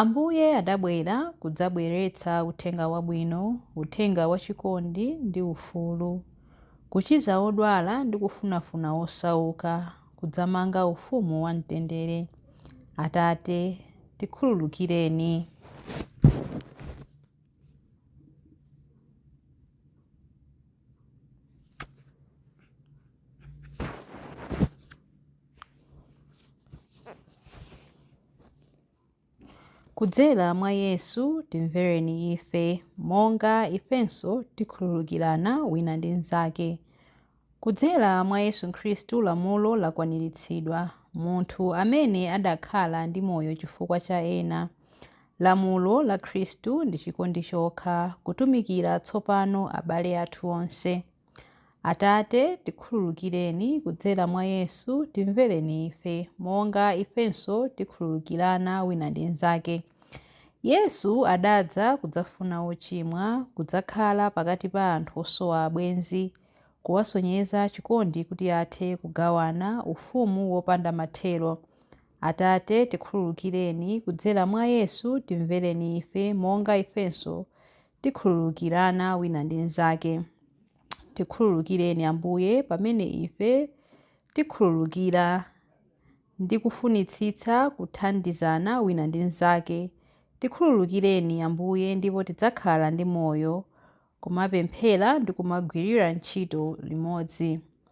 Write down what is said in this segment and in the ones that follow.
Ambuye adabwera kudzabweretsa uthenga wabwino, uthenga wachikondi ndi ufulu, kuchiza odwala ndi kufunafuna osauka, kudzamanga ufumu wa mtendere. Atate, tikhululukireni. Kudzera mwa Yesu timvereni ife, monga ifenso tikhululukirana wina ndi mnzake. Kudzera mwa Yesu Khristu lamulo lakwaniritsidwa, munthu amene adakhala ndi moyo chifukwa cha ena. Lamulo la Khristu ndi chikondi chokha, kutumikira tsopano abale athu onse. Atate, tikhululukireni kudzera mwa Yesu, timvereni ife, monga ifenso tikhululukirana wina ndi mnzake. Yesu adadza kudzafuna ochimwa, kudzakhala pakati pa anthu osowa abwenzi, kuwasonyeza chikondi kuti athe kugawana ufumu wopanda mathero. Atate, tikhululukireni kudzera mwa Yesu, timvereni ife, monga ifenso tikhululukirana wina ndi mnzake. Tikhululukireni, Ambuye, pamene ife tikhululukira, ndi kufunitsitsa kuthandizana wina ndi mnzake. Tikhululukireni, Ambuye, ndipo tidzakhala ndi moyo, kumapemphera ndi kumagwirira ntchito limodzi.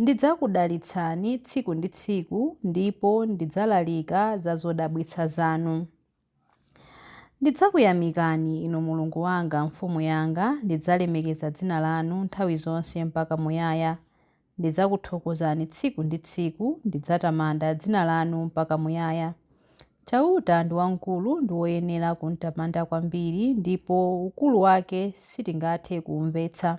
Ndidzakudalitsani tsiku ndi tsiku ndipo ndidzalalika za zodabwitsa zanu. Ndidzakuyamikani, Inu Mulungu wanga, Mfumu yanga, ndidzalemekeza dzina lanu nthawi zonse mpaka muyaya. Ndidzakuthokozani tsiku ndi tsiku, ndidzatamanda dzina lanu mpaka muyaya. Chauta ndi wamkulu ndi woyenera kumtamanda kwambiri ndipo ukulu wake sitingathe kuumvetsa.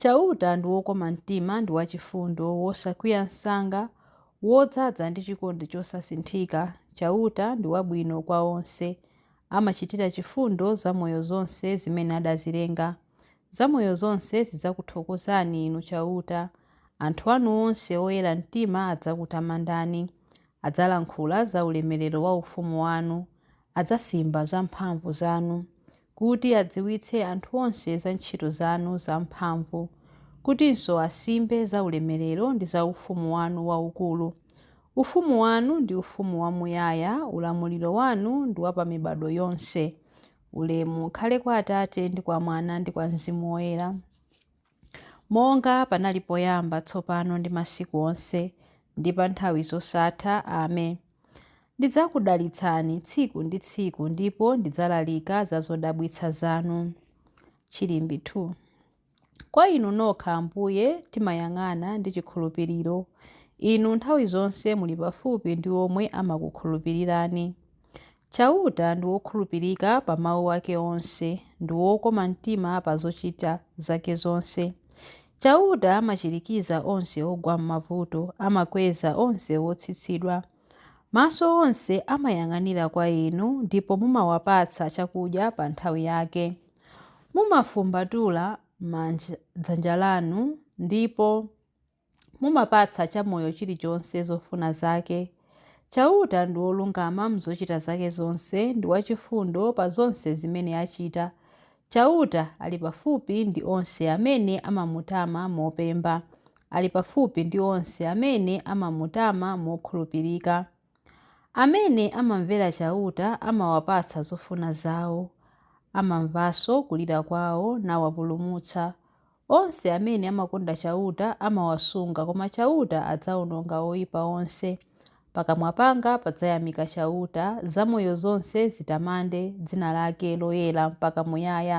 Chauta ndi wokoma mtima ndi wachifundo, wosakwiya msanga, wodzaza ndi chikondi chosasinthika. Chauta ndi wabwino kwa onse, amachitira chifundo zamoyo zonse zimene adazilenga. Zamoyo zonse zidzakuthokozani, Inu Chauta. Anthu anu onse oyera mtima adzakutamandani. Adzalankhula za ulemerero wa ufumu wanu, adzasimba za mphamvu zanu. kuti adziwitse anthu onse za ntchito zanu zamphamvu, kutinso asimbe za ulemerero ndi za ufumu wanu waukulu. Ufumu wanu ndi ufumu wamuyaya, ulamuliro wanu ndi wa pa mibadwo yonse. Ulemu ukhale kwa Atate ndi kwa Mwana ndi kwa Mzimu Woyera. Monga panali poyamba, tsopano ndi masiku onse, ndi pa nthawi zosatha. Amen. Ndidzakudalitsani tsiku ndi tsiku ndipo ndidzalalika za zodabwitsa zanu. Chilimbikitso 2. Kwa inu nokha, Ambuye, timayang'ana ndi chikhulupiriro. Inu nthawi zonse muli pafupi ndi omwe amakukhulupirirani. Chauta ndi wokhulupirika pa mau ake onse, ndi wokoma mtima pa zochita zake zonse. Chauta amachirikiza onse ogwa m'mavuto, amakweza onse otsitsidwa. Maso onse amayang'anira kwa Inu, ndipo mumawapatsa chakudya pa nthawi yake. Mumafumbatula dzanja lanu, ndipo. Mumapatsa chamoyo chilichonse zofuna zake. Chauta ndi wolungama m'zochita zake zonse ndi wachifundo pa zonse zimene achita. Chauta ali pafupi ndi onse amene amamutama mopemba. Ali pafupi ndi onse amene amamutama mokhulupirika. Amene amamvera Chauta amawapatsa zofuna zao, amamvanso kulira kwao nawapulumutsa. Onse amene amakonda Chauta amawasunga, koma Chauta adzaononga oipa onse. Pakamwa panga padzayamika Chauta, zamoyo zonse zitamande dzina lake loyera mpaka muyaya.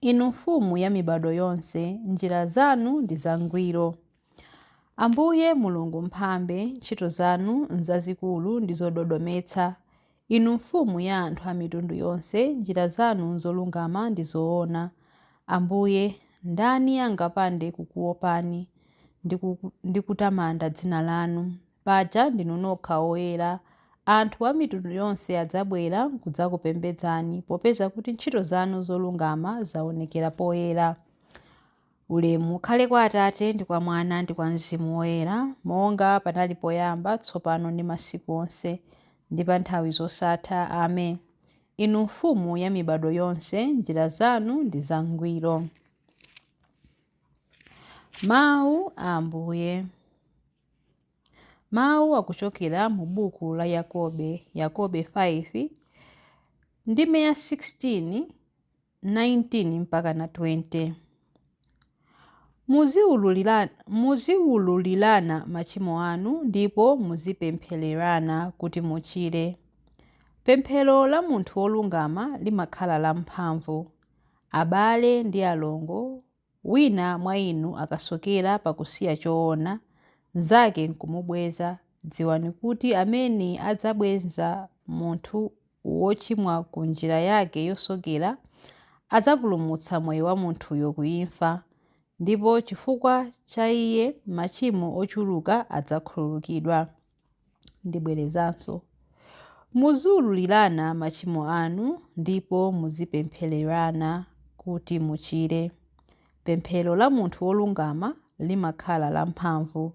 Inu Mfumu ya mibadwo yonse, njira zanu ndi zangwiro. Ambuye Mulungu Mphambe, ntchito zanu nzazikulu ndi zododometsa. Inu Mfumu ya anthu a mitundu yonse, njira zanu nzolungama ndi zoona. Ambuye, ndani angapande kukuopani ndi ku- ndi kutamanda dzina lanu? Paja ndinu nokha oyera. Anthu a mitundu yonse adzabwera kudzakupembedzani, popeza kuti ntchito zanu zolungama zaonekera poyera. Ulemu ukhale kwa Atate, ndi kwa Mwana, ndi kwa Mzimu Woyera, monga panali poyamba, tsopano ndi masiku onse, ndi pa nthawi zosatha. Amen. Inu Mfumu ya mibadwo yonse, njira zanu ndi zangwiro. Mawu a Ambuye. Mawu akuchokera mu buku la Yakobe, Yakobe 5, ndime ya 16, 19 mpaka na 20. Muziwululirana machimo anu ndipo muzipemphererana kuti muchire. Pemphero la munthu wolungama limakhala lamphamvu. Abale ndi alongo Wina mwa inu akasokera pakusiya choona, mnzake nkumubweza, dziwani kuti amene adzabweza munthu wochimwa ku njira yake yosokera, adzapulumutsa moyo wa munthuyo ku imfa, ndipo chifukwa cha iye machimo ochuluka adzakhululukidwa. Ndibwerezanso, Muziululirana machimo anu ndipo muzipemphererana kuti muchire. Pemphero la munthu wolungama limakhala lamphamvu.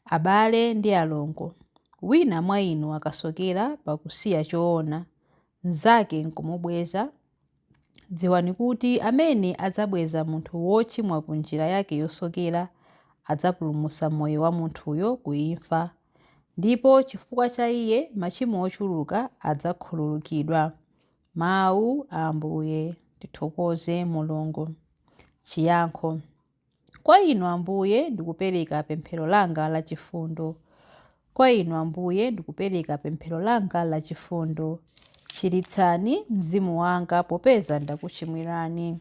Abale ndi alongo, wina mwa inu akasokera pakusiya choona, mnzake n'kumubweza, Dziwani kuti amene adzabweza munthu wochimwa ku njira yake yosokera adzapulumutsa moyo wa munthuyo ku imfa, ndipo chifukwa cha iye machimo ochuluka adzakhululukidwa. Mawu a Ambuye. Tithokoze Mulungu. Chiyankho. Kwa Inu, Ambuye, ndikupereka pemphero langa la chifundo. Kwa Inu, Ambuye, ndikupereka pemphero langa la chifundo. Chiritsani mzimu wanga popeza ndakuchimwirani.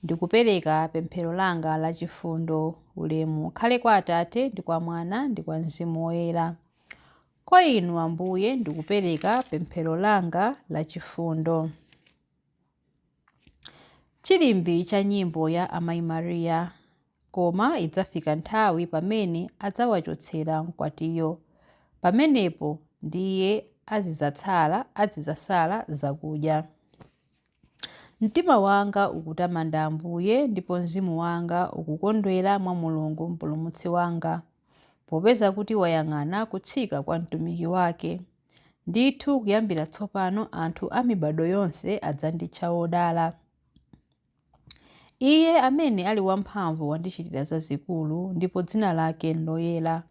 Ndikupereka pemphero langa la chifundo. Ulemu ukhale kwa Atate ndi kwa Mwana ndi kwa Mzimu Woyera. Kwa Inu, Ambuye, ndikupereka pemphero langa la chifundo. Chilimbi cha nyimbo ya Amayi Maria. Koma idzafika nthawi pamene adzawachotsera mkwatiyo. Pamenepo ndiye azidzatsala, azidzasala zakudya. Mtima wanga ukutamanda Ambuye, ndipo mzimu wanga ukukondwera mwa Mulungu Mpulumutsi wanga. popeza kuti wayang'ana kutsika kwa mtumiki wake. Ndithu kuyambira tsopano anthu a mibado yonse adzanditcha wodala. Iye amene ali wamphamvu wandichitira zazikulu ndipo dzina lake nloyera.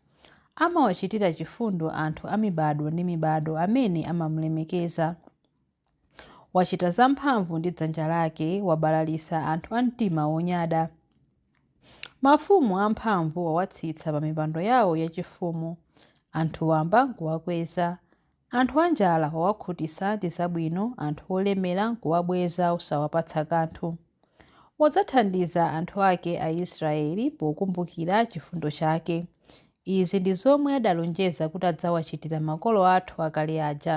Amawachitira chifundo anthu a mibado ndi mibado amene amamulemekeza. Wachita zamphamvu ndi dzanja lake, wabalalitsa anthu a mtima wonyada. Mafumu amphamvu wawatsitsa pa mipando yawo yachifumu, anthu wamba n'kuwakweza. Anthu anjala wawakhutitsa ndi zabwino, anthu olemera n'kuwabweza osawapatsa kanthu. Wadzathandiza anthu ake Aisiraeli pokumbukira chifundo chake. Izi ndi zomwe adalonjeza kuti adzawachitira makolo athu akale aja.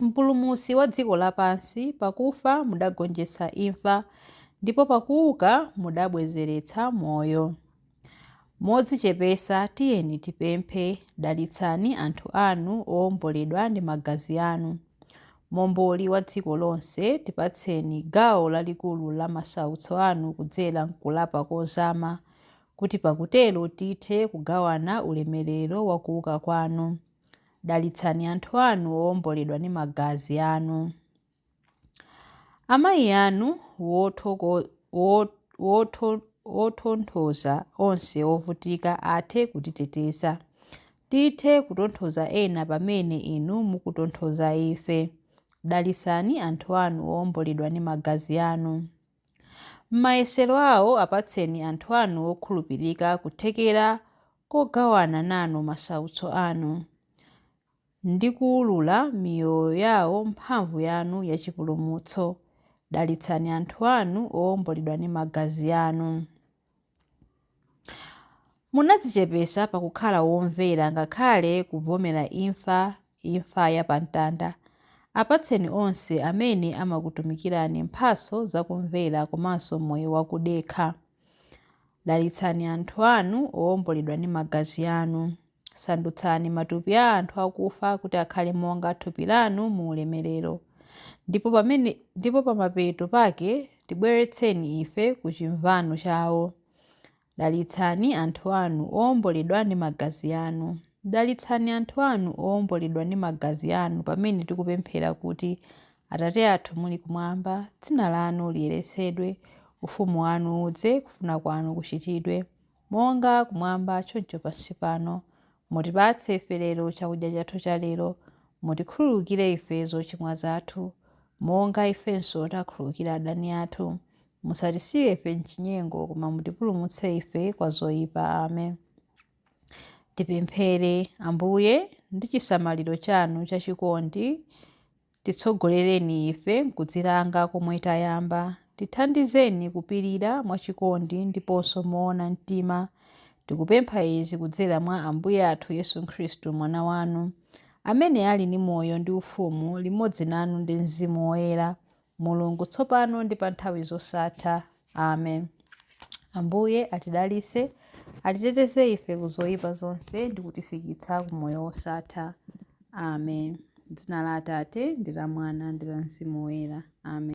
Mpulumutsi wa dziko lapansi, pakufa mudagonjetsa imfa, ndipo pakuuka mudabwezeretsa moyo. Modzichepetsa tiyeni tipemphe, dalitsani anthu anu oomboledwa ndi magazi anu. Momboli wa dziko lonse, tipatseni gawo lalikulu la masautso anu kudzera m'kulapa kozama, kuti pakutero tithe kugawana ulemerero wa kuuka kwanu. Dalitsani anthu anu owomboledwa ndi magazi anu. Amayi anu wotonthoza onse ovutika athe kutiteteza. Tithe kutonthoza ena pamene inu mukutonthoza ife. Dalitsani anthu anu owomboledwa ndi magazi anu. M'mayesero awo apatseni anthu anu okhulupirika kuthekera kogawana nanu masautso anu, ndi kuulula miyoyo yawo mphamvu yanu ya chipulumutso. Dalitsani anthu anu owomboledwa ndi magazi anu. Munadzichepetsa pakukhala womvera ngakhale kuvomera imfa, imfa ya pa mtanda. Apatseni onse amene amakutumikirani mphatso za kumvera komanso moyo wa kudekha. Dalitsani anthu anu owomboledwa ndi magazi anu. Sandutsani matupi a anthu akufa kuti akhale monga thupi lanu mu ulemerero, ndipo pamene, ndipo pamapeto pake tibweretseni ife ku chimvano chawo. Dalitsani anthu anu owomboledwa ndi magazi anu. Dalitsani anthu anu owomboledwa ndi magazi anu pamene tikupemphera kuti, Atate athu muli kumwamba, dzina lanu liyeretsedwe, ufumu wanu udze, kufuna kwanu kuchitidwe. Monga kumwamba, choncho pansi pano, mutipatse ife lero chakudya chathu cha lero, mutikhululukire ife zochimwa zathu, monga ifenso takhululukira adani athu, musatisiye ife m'chinyengo, koma mutipulumutse ife kwa zoyipa. Amen. Tipemphere, Ambuye, ndi chisamaliro chanu chachikondi, Titsogolereni ife m'kudzilanga komwe tayamba. Tithandizeni kupirira mwachikondi ndiponso moona mtima. Tikupempha izi kudzera mwa Ambuye athu Yesu Khristu, Mwana wanu, amene ali ndi moyo ndi ufumu limodzi nanu ndi Mzimu Woyera, Mulungu, tsopano ndi pa nthawi zosatha. amen ambuye atidalitse atiteteze ife ku zoyipa zonse ndi kutifikitsa ku moyo wosatha amen dzina la atate ndi la mwana ndi la mzimu woyera amen